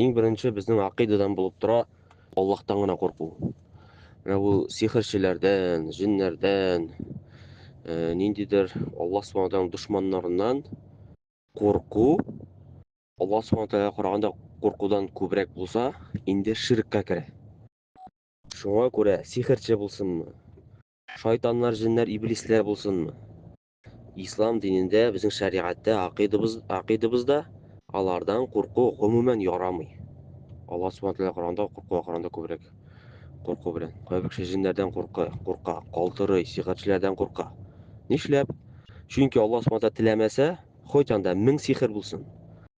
Иң беренче безнең акыйдадан булып тора Аллаһтан гына курку. Менә бу сихерчеләрдән, җиннәрдән, э, ниндидер Аллаһ Субхану Тәгаләнең дошманнарыннан курку, Аллаһ Субхану Тәгаләгә караганда куркудан күбрәк булса, инде ширккә керә. Шуңа күрә сихерче булсынмы, шайтаннар, җиннәр, иблисләр булсынмы, Ислам динендә, безнең шәригатьтә, акыйдыбыз, акыйдыбызда алардан курку гомумән ярамый. Алла Субхану Тәгалә Коранда курку Коранда күбрәк курку белән. Кайбер кеше җиннәрдән курка, курка, калтырый, сихерчеләрдән курка. Нишләп? Чөнки Алла Субхану Тәгалә теләмәсә, хоть анда мең сихер булсын.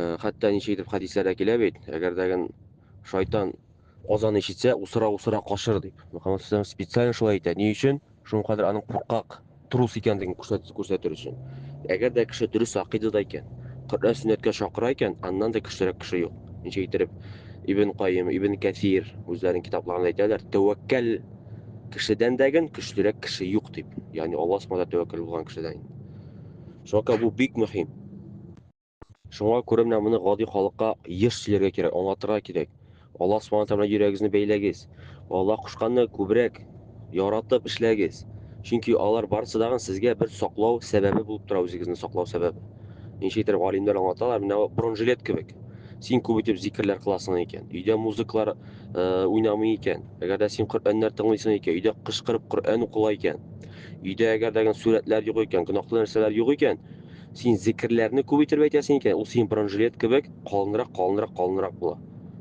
Э, хәтта ничек итеп хәдисләрдә килә бит, әгәр дәген шайтан азан ишетсә, усыра-усыра кашыр дип. Мөхәммәд Сәлам специально шулай әйтә. Ни өчен? Шуның кадәр аның куркак, трус икәнлеген күрсәтер өчен. Әгәр дә кеше дөрес акыйдада икән, Коръән сөннәткә чакыра икән, аннан да көчлерәк кеше юк. Ничек итеп Ибн Кайым, Ибн Кәсир үзләренең китапларында әйтәләр, тәвәккәл кешедән дәген көчлерәк кеше юк дип. Ягъни Аллаһ Субхану тәвәккәл булган кешедән. Чөнки бу бик мөһим. Шуңа күрә менә моны гади халыкка еш сөйләргә кирәк, аңлатырга кирәк. Аллаһ Субхана Тәгалә белән йөрәгегезне бәйләгез. Аллаһ кушканны күбрәк яратып эшләгез. Чөнки алар барысы да сезгә бер саклау сәбәбе булып тора, үзегезне саклау сәбәбе. Ничек итеп галимнәр аңлаталар, менә бронежилет кебек. Син күп итеп зикерләр кыласың икән, өйдә музыкалар э, уйнамый икән, әгәр дә син Коръәннәр тыңлыйсың икән, өйдә кычкырып Коръән укыла икән, Өйдә әгәр дә сурәтләр юк икән, гөнаһлы нәрсәләр юк икән, син зикерләрне күп итеп әйтәсең икән, ул синең бронжилет кебек калынрак, калынрак, калынрак була.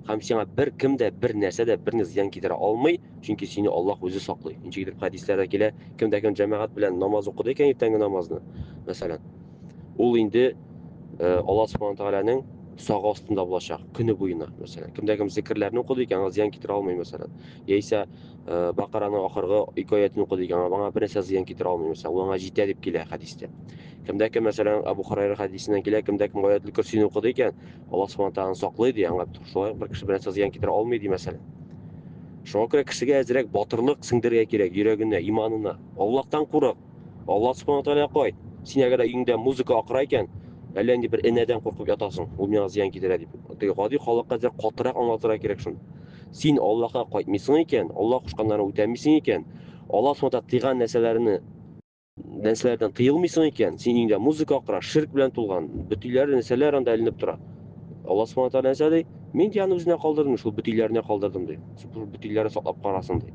Һәм сиңа бер кем дә, бер нәрсә дә, берни зыян китерә алмый, чөнки сине Аллаһ үзе саклый. Ничек итеп хәдисләрдә килә, кем дә кем җәмәгать белән намаз укыды икән иртәнге намазны, мәсәлән, ул инде э, Аллаһ Субхану Тәгаләнең сагы астында булачак, көне буена, мәсәлән. Кем дә кем зикерләрне укыды икән, аңа зыян китерә алмый, мәсәлән. Яисә Э, бакараның ахыргы ике аятын укы дигән аңа бернәрсә зыян китерә алмый мисал ул аңа җитә дип килә хәдистә кемдә кем мәсәлән абу хурайра хәдисеннән килә кемдә кем аятлы көрсине укыды икән алла субхан тағала саклый ди аңа шулай бер кеше бернәрсә зыян китерә алмый ди мәсәлән шуңа күрә кешегә әзрәк батырлык сеңдерергә кирәк йөрәгенә иманына аллаһтан курык Алла субхана тәгалә кай, син әгәр өеңдә музыка акыра икән, әллә инде бер энәдән куркып ятасың, ул миңа зыян китерә дип. Теге гади халыкка әзер катырак аңлатырга кирәк шуны. Син Аллаһка кайтмыйсың икән, Аллаһ кушканнарын үтәмисең икән, Аллаһ субхана тәгалә тыйган нәрсәләрне нәрсәләрдән тыелмыйсың икән, син өеңдә музыка акыра, ширк белән тулган, бөтиләр, нәрсәләр анда эленеп тора. Аллаһ субхана тәгалә нәрсә ди? Мин ди аны үзенә калдырдым, шул бөтиләренә калдырдым ди. Бөтиләре саклап карасын ди.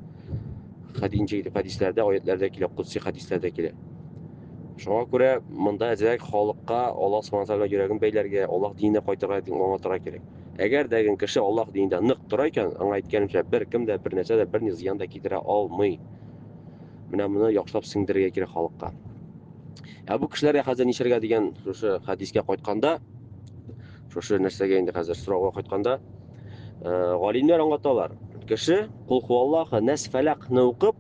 хәдинче итеп хәдисләрдә, аятләрдә килә, кудси хәдисләрдә килә. Шуңа күрә монда әзрәк халыкка Аллаһ Субхану тагала йөрәген бәйләргә, Аллаһ диненә кайтырга дип аңлатырга кирәк. Әгәр дә кеше Аллаһ динендә нык тора икән, аңа әйткәнемчә, бер кем дә, бер нәрсә дә, берни зыян да китерә алмый. Менә моны яхшылап сеңдерергә кирәк халыкка. Ә бу кешеләргә хәзер нишәргә дигән шушы хәдискә кайтканда, Шушы нәрсәгә инде хәзер сорауга кайтканда, галимнәр аңлаталар. Кеше кул хуаллаха нәс фәләкне укып,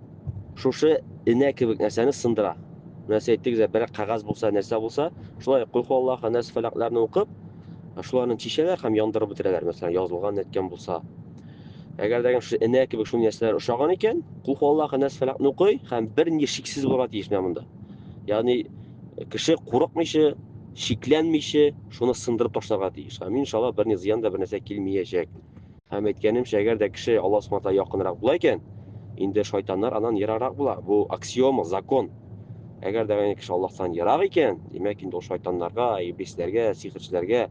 шушы энә кебек нәрсәне сындыра. Нәрсә әйттегез, бер кагаз булса, нәрсә булса, шулай кул хуаллаха нәс фәләкләрне укып, шуларны чишәләр һәм яндырып бетерәләр, мәсәлән, язылган әйткән булса. Әгәр дә шушы энә кебек шундый нәрсәләр ошаган икән, кул хуаллаха нәс фәләкне укый һәм бер ни шиксез булырга тиеш менә монда. Ягъни Кеше курыкмыйча, шикләнмичә шуны сындырып ташларга тиеш. Һәм иншалла берни зыян да бернәрсә килмиячәк. Һәм әйткәнемчә, әгәр дә кеше Аллаһ Субханала якынрак була икән, инде шайтаннар аннан ераграк була. Бу аксиома, закон. Әгәр дә кеше Аллаһтан ерак икән, димәк инде ул шайтаннарга, иблисләргә, сихерчеләргә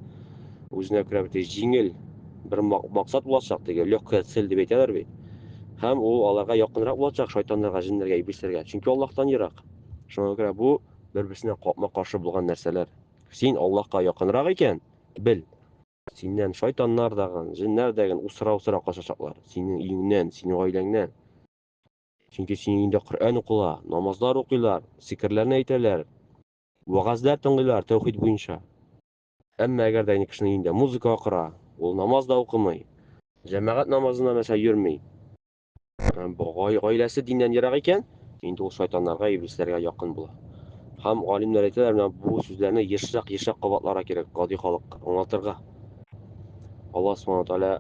үзенә күрә бит җиңел бер максат булачак теге легкая цель дип әйтәләр бит. Һәм ул аларга якынрак булачак шайтаннарга, җиннәргә, иблисләргә. Чөнки Аллаһтан ерак. Шуңа күрә бу бер-берсенә капма-каршы булган нәрсәләр. Син Аллаһка якынрак икән, бел, синнән шайтаннар дагын, җеннәр дәген усыра-усыра качачаклар. Синең өеңнән, синең гаиләңнән. Чөнки синең өеңдә Коръән укыла, намазлар укыйлар, зикерләрне әйтәләр, вәгазьләр тыңлыйлар тәүхид буенча. Әмма әгәр дә кешенең өендә музыка акыра, ул намаз да укымый, җәмәгать намазына мәсә йөрми, Һәм бу гай гаиләсе диннән ерак икән, инде ул шайтаннарга, иблисләргә якын була. Һәм галимнәр әйтәләр, менә бу сүзләрне ешрак, ешрак кабатларга кирәк, гади халыкка аңлатырга. Аллаһ Субхану Тәгалә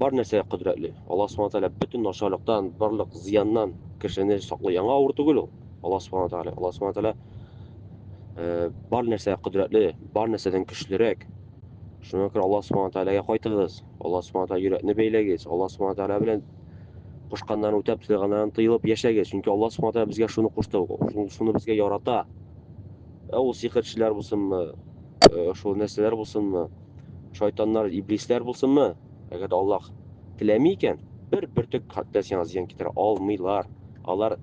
бар нәрсәгә кодрәтле. Аллаһ Субхану Тәгалә бөтен начарлыктан, барлык зыяннан кешене саклый. Яңа авыр түгел ул. Аллаһ Субхану Тәгалә, Аллаһ Субхану Тәгалә э, бар нәрсәгә кодрәтле, бар нәрсәдән көчлерәк. Шуңа күрә Аллаһ Субхану Тәгаләгә кайтыгыз. Аллаһ Субхана Тәгалә йөрәкне бәйләгез. Аллаһ Субхана Тәгалә белән кушканнарын үтәп, тыйганнардан тыелып яшәгез. Чөнки Аллаһ Субхана Тәгалә безгә шуны кушты, шуны безгә ярата. Ә ул сихерчеләр булсынмы, шул нәрсәләр булсынмы, шайтаннар, иблисләр булсынмы, әгәр Аллаһ теләми икән, бер бөртек хәтта сиңа зыян китерә алмыйлар. Алар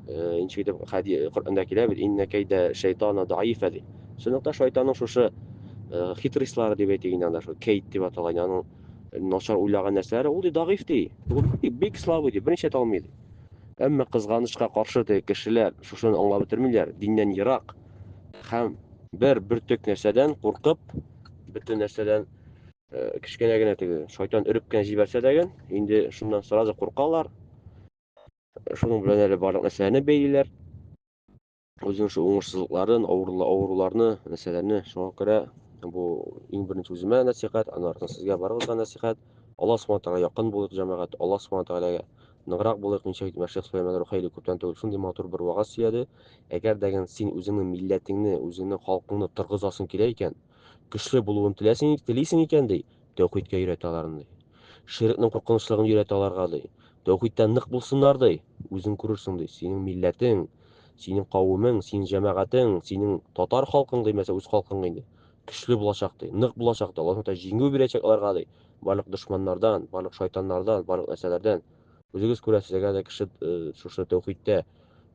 ничек итеп Коръәндә килә бит, иннә кәйдә шайтана даифа дип. Чынлыкта шайтанның шушы э, хитрислары дип әйтик инде анда шул Кейт дип атала инде аның начар уйлаган нәрсәләре ул ди дагыйф ди. Ул бик слабый ди, берничә талмый ди. Әмма кызганычка каршы теге кешеләр шушыны аңлап бетермиләр, диннән ерак һәм бер бөртек нәрсәдән куркып, бөтен нәрсәдән э, кечкенә генә теге шайтан өреп кенә җибәрсә дәген, инде шуннан сразу куркалар. Шуның белән әле барлык нәрсәләрне бәйлиләр. үзенең шул уңышсызлыкларын авыруларны нәрсәләрне шуңа күрә бу иң беренче үземә нәсихәт аннан артыннан сезгә барыгызга нәсихәт алла субхана тәгалә якын булыйк җәмәгать алла субхана тәгаләгә ныграк булыйк ничек әйтмә шейх сөләйман рухайли күптән түгел шундый матур бер вәгазь сөйләде әгәр дә син үзеңнең милләтеңне үзеңнең халкыңны торгызасың килә икән көчле булуын теләсең телисең икән ди Тәүхидкә өйрәт аларны, ди. Ширекнең куркынычлыгын өйрәт аларга, ди. Тәүхидтә нык булсыннар, ди. Үзең күрерсең, ди, синең милләтең, синең кавемең, синең җәмәгатең, синең татар халкың, ди, мәсәлән, үз халкың инде, көчле булачак, ди, нык булачак, ди. Аллаһ Сүбхәнәһү Тәгалә җиңү бирәчәк аларга, ди, барлык дошманнардан, барлык шайтаннардан, барлык нәрсәләрдән. Үзегез күрәсез, әгәр дә кеше шушы тәүхидтә,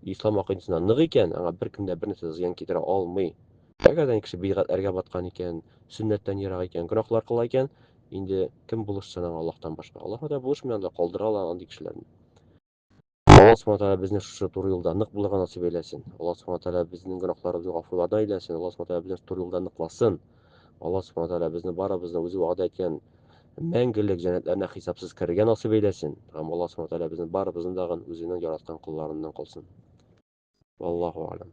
ислам акыйдасында нык икән, аңа беркем дә бернәрсә зыян китерә алмый. Әгәр дә кеше бидгатьләргә баткан икән, сөннәттән ерак икән, гөнаһлар кыла икән, инде кем булышсын аңа Аллаһтан башка? Аллаһ Тәгалә булышмый анда, калдыра ала андый кешеләрне. Аллаһ Субхана Тәгалә безне шушы туры юлда нык булырга насыйп әйләсен. Аллаһ Субхана Тәгалә безнең гөнаһларыбызны гафулардан әйләсен. Аллаһ Субхана Тәгалә безне шушы туры юлда ныкласын. Аллаһ Субхана Тәгалә безне барыбызны үзе вәгъдә иткән мәңгелек җәннәтләренә хисапсыз керергә насыйп әйләсен. Һәм Аллаһ Субхана Тәгалә безнең барыбызны дагын үзенең яраткан колларыннан кылсын. Валлаһу а'лам.